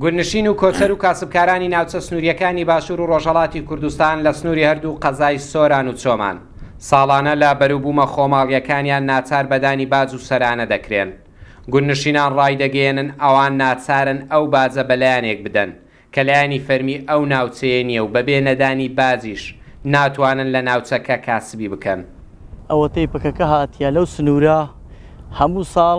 گوندنشین و کۆچەر و کاسبکارانی ناوچە سنوورییەکانی باشوور و ڕۆژهەڵاتی کوردستان لە سنووری هەردوو قەزای سۆران و چۆمان، ساڵانە لە بەروبوومە خۆماڵییەکانیان ناچار بە دانی باج و سەرانە دەکرێن. گوندنشینان ڕایدەگەیەنن ئەوان ناچارن ئەو باجە بە لایەنێک بدەن، کە لایەنی فەرمی ئەو ناوچەیە نییە و بەبێ نەدانی باجیش ناتوانن لە ناوچەکە کاسبی بکەن. ئەوەتەی پەکەکە هاتیە لەو سنوورە هەموو ساڵ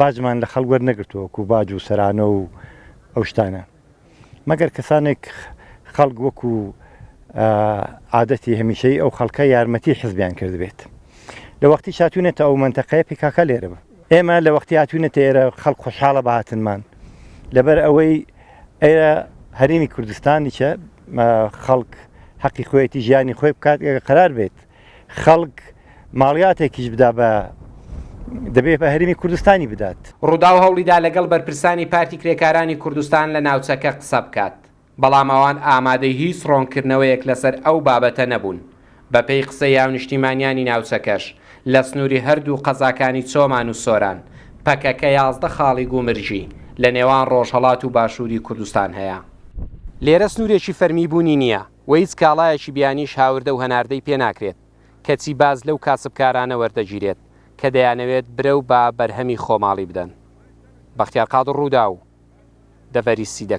باجمان لە خەڵک وەرنەگرتووە وەکو باج و سەرانە و ئەو شتانە مەگەر کەسانێک خەڵک وەکو عادەتی هەمیشەی ئەو خەڵکە یارمەتی حزبیان کردبێت لە وەختی شاتونێتە ئەو منتەقەیە پیکاکە لێرە بە ئێمە لە وەختی هاتوونەتە ئێرە خەڵک خۆشحاڵە بەهاتنمان لەبەر ئەوەی ئێرە هەرێمی کوردستانیشە خەڵک حەقی خۆیەتی ژیانی خۆی بکات ئێرە قرار بێت خەڵک ماڵیاتێکیش بدا بە دەبێ بە هەرێمی کوردستانی بدات. رووداو هەوڵیدا لەگەڵ بەرپرسانی پارتی کرێکارانی کوردستان لە ناوچەکە قسە بکات، بەڵام ئەوان ئامادەی هیچ رۆنکردنەوەیەک لەسەر ئەو بابەتە نەبوون. بەپێی قسەی هاونیشتیمانیانی ناوچەکەش، لە سنووری هەردوو قەزاکانی چۆمان و سۆران، پەکەکە یازدە خاڵی گومرجی لە نێوان رۆژهەڵات و باشووری کوردستان هەیە. لێرە سنوورێکی فەرمی بوونی نییە. و هیچ کاڵایەکی بیانیش هاوردە و هەناردەی پێ ناکرێت، کەچی باج لەو کاسبکارانە وەردەگیرێت کە دەیانەوێت برەو بە بەرهەمی خۆماڵی بدەن. بەختیار قادر، رووداو، دەڤەری سیدە.